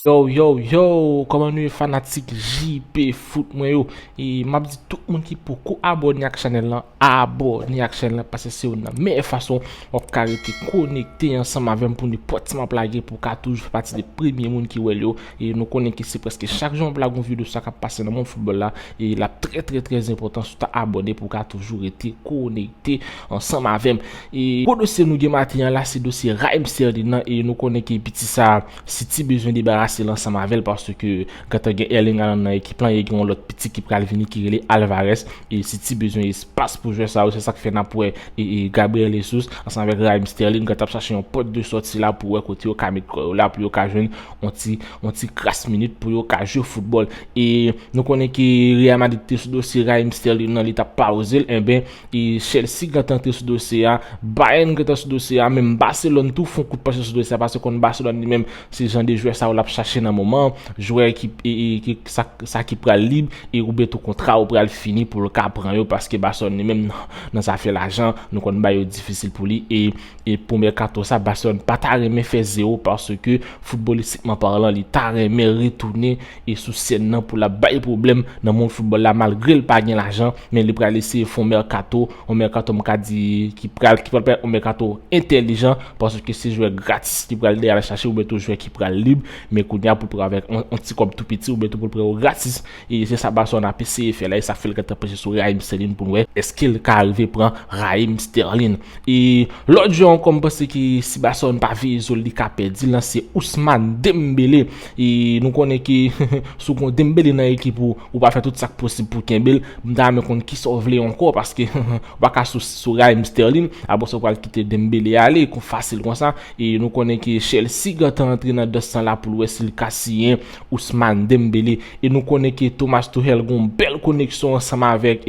Yow yow yow koman nou ye fanatik JP foot mwen yo e map di tout moun ki poko abone ak chanel lan abone ak chanel lan pase se youn nan meyè fason Wap ka rete konekte ansanm avèm pou nenpòt ti map lage pou ka toujou fè pati de premye moun ki wèl yo e nou konnen ke se prèske chak jou map lage yon video sa kap pase nan mond foutbòl la e lap trè trè trè enpòtan sou ta abòne pou ka toujou rete konekte ansanm avèm e gwo dosye nou gen maten an la se dosye Raheem Sterling nan e nou konnen ke piti sa City bezwen debarasel ansanm avèl paske Gentan gen Erling Haaland nan ekip lan e gen yon lòt piti ki pral vini ki rele Alvarez e City bezwen espas pou jwè sa yo se sak fè nap wè e Gabriel Jesus ansanm avèk Raheem Sterling gentan ap chache yon pòt de sòti la pou wè kote yo ka met kò yo la pou yo ka jwenn yon ti yon ti kras minit pou yo ka jwe foutbòl e nou konnen ke Real Madrid te sou dosye Raheem Sterling nan li tap pawozel enben E Chelsea gentan antre sou dosye a, Bayern gentan sou dosye a, menm Barcelone tou fon kout panche sou dosye a paske konn Barcelone li menm se jan de jwè sa yo lap chache nan moman an, jwè ki e sa ki pral lib e oubyen tou kontra yo pral fini poul ka pran yo paske Barcelone li menm nan zafè lajan nou konn bagay yo difisil pou li e E pou mèkato sa, Barcelone pa ta renmen fè zewo paske foutbolistikman parlan li ta renmen retounen e sou sèn nan pou l ap bay pwoblèm nan mond foutbòl la malgre l pa gen lajan men li pral eseye fon mèkato, yon mèkato m ka di ki pral ki pral pa yon mèkato entèlijan paske se jwè gratis li pral al chache oubyen tou jwè ki pral lib men kounye a pou l pran avèk yon ti kòb tou piti oubyen tou pou l pran yo gratis E se sa Barcelone ap eseye fè la, e sa fè l gentan penche sou Raheem Sterling pou n wè èske l ka arive pran Raheem Sterling. E lòt jwè ankò m panse ke si Barcelone pa veye zo l li ka pèdi l lan se Ousmane Dembele. E nou konnen ke si w gen Dembele nan ekip ou, ou pral fè tout sa k posib pou w kenbe l. M ta renmen konn kisa w vle ankò paske ou pa ka sou Raheem Sterling apre sa w pral kite Dembele ale fasil konsa. E nou konnen ke Chelsea gentan antre nan dans lan la pou l wè si l ka siyen Ousmane Dembélé e nou konnen ke Thomas Tuchel gon bèl koneksyon ansanm avèk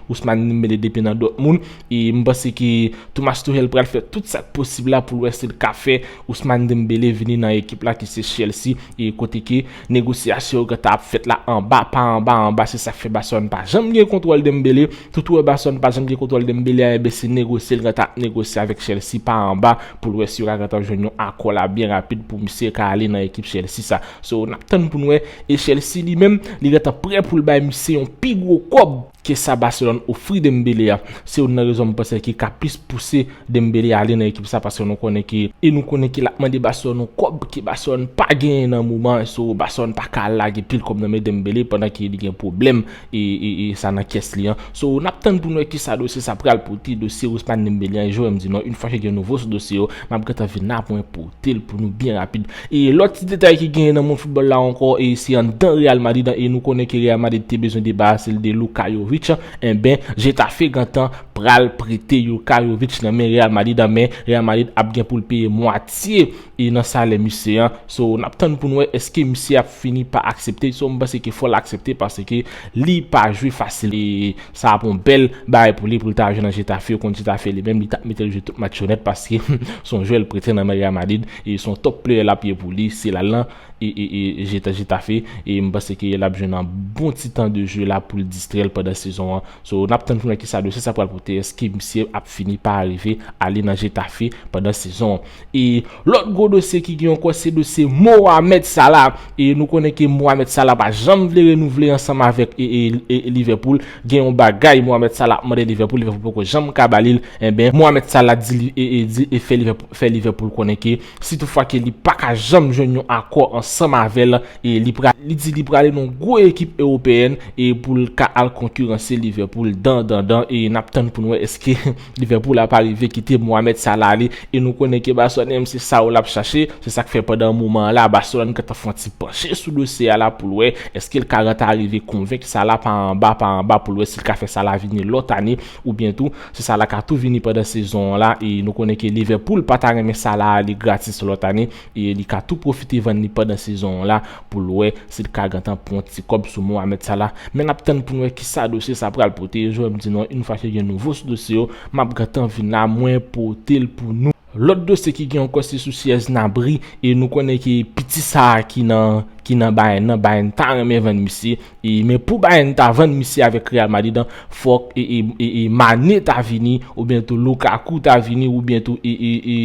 Ousmane Dembélé depi nan Dortmund e m panse ke Thomas Tuchel pral fè tout sak posib la poul wè si l ka fè Ousmane Dembélé vini nan ekip la ki se Chelsea e kote ke negosyasyon yo gentan ap fèt la anba pa anba anba se sak fè Barcelone pa janm gen kontwòl Dembélé. Tout Werbason pat janm gen kontwòl Dembele a enben se negosye l ka ta negosye avèk Chelsea pa anba pou l wè si yo ka gentan jwenn yon akò la byen rapid pou misye ka ale nan ekip Chelsea sa. So nap tann pou n wè e Chelsea li menm li gentan prè pou l bay misye yon pi gwo kòb ke sa Barcelone ofri Dembele a. Se youn nan rezon m panse ki ka plis pouse Dembele ale nan ekip sa paske nou konnen ke. E nou konnen ke lap mande Barcelone yon kòb ke Barcelone pa genyen nan moman an so Barcelone pa ka al lage pil kòb nan men Dembele pandan ke li gen pwoblèm sa nan kès li an. So, n ap tann pou n wè kisa dosye sa pral pote, dosye Rousmane Dembélé an. E Joe M di non, infa ke gen nouvo sou dosye yo, m ap gentan vin la pou mwen pote l pou nou byen rapid. E lòt ti detay ki genyen nan mond foutbòl la ankò, e se anndan Real Madrid an, e nou konnen ke Real Madrid te bezwen debarase l de Luka Jovic, enben, Getafe gentan pral prete Luka Jovic nan men Real Madrid an, men Real Madrid ap gen pou l peye mwatye. e nan salè misye an so nap tann poun wè eske misye ap fini pa aksepte so mpanse ke fòl aksepte paske li pa jwe fasil e sa ap yon bèl bagay pou li poul ta jwe nan Getafe ou konn Getafe li menm li tap metel jwe tout match yo nèt paske son jwè li prete nan men Real Madrid e son top player lap ye pou li se lal nan Getafe e mpanse ke lap jwenn yon bon ti tan de jwe la poul distrèl pandan sezon an so nap tann poun wè kisa dosye sa pral pote eske misye ap fini pa arive ale nan Getafe pandan sezon. E lòt gwo dosye ki gen yon kò se dosye Mohamed Salah. E nou konnen ke Mohamed Salah pa janm vle renouvle ansanm avèk Liverpool. Gen yon bagay Mohamed Salah ap mande Liverpool, Liverpool poko janm ka ba li l. Enben, Mohamed Salah di fè Liverpool konnen ke si tout fwa ke li pa ka janm jwenn yon akò ansanm avè l, li di li prale nan yon gwo ekip ewopeyèn pou l ka al konkiranse Liverpool dan dan dan. E n ap tann pou n wè èske. Liverpool la pa rive kite Mohamed Salah ale e nou konnen ke Barcelone menm se Saúl ap chache, se sak fè pandan moman an la Barcelone gentan fè yon ti panche sou dosye a la poul wè eskel ka reta rive konvenk Salah pa anba pa anba poul wè sil ka fè Salah vini lòt ane oubyen tou si Salah ka tou vini pandan sezon an la e nou konnen ke Liverpool pata renmen Salah ale gratis lòt ane e li ka tou pwofite vann li pandan sezon an la pou l wè si l ka gentan pran ti kòb sou Mohamed Salah, men n ap tann pou n wè kisa dosye sa pral pote, jwè m di nou an yn fwa ke gen nouvo sou dosye yo m ap gentan vin la mwen pote l pou nou. Lòt dosye ki gen ankò se sou Sièz Nabri e nou konnen ke piti sa ki nan ki nan Bayern nan Bayern ta renmen vann misye e men pou Bayern ta vann misye avèk Real Madrid an fòk e e e Mané ta vini oubyen tou Lukaku ta vini oubyen tou e e e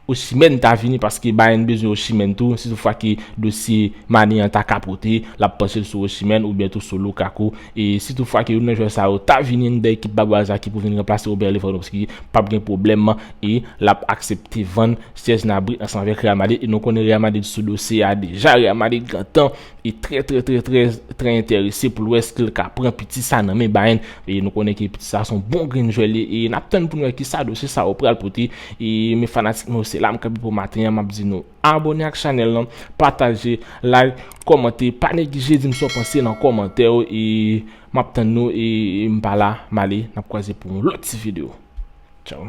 Osimhen ta vini paske Bayern bezwen Osimhen tou, si tout fwa ke dosye Mané an ta kapote, lap panche l sou Osimhen oubyen tou sou Lukaku, e si tout fwa ke youn nan jwè sa yo ta vini anndan ekip Babouaz la ki pou vin ranplase Robert Lewandowski, pap gen pwoblèm e lap aksepte vann Serge Gnabry ansanm avèk Real Madrid, e nou konnen Real Madrid sou dosye a deja, Real Madrid gentan. e trè trè trè trè trè entèrese pou l wè ske l ka pran piti sa nan men Bayern e nou konnen ke piti sa son bon grenn jwè li e nap tann pou nou wè kisa dosye sa yo pral pote e men fanatik mwen yo se la m kanpe pou maten an map di nou abòne ak chanèl lan pataje like kòmante pa neglije di m sa w panse nan kòmantè yo e map tann nou e m pa la m ale nap kwaze pou yon lòt ti video tchaw.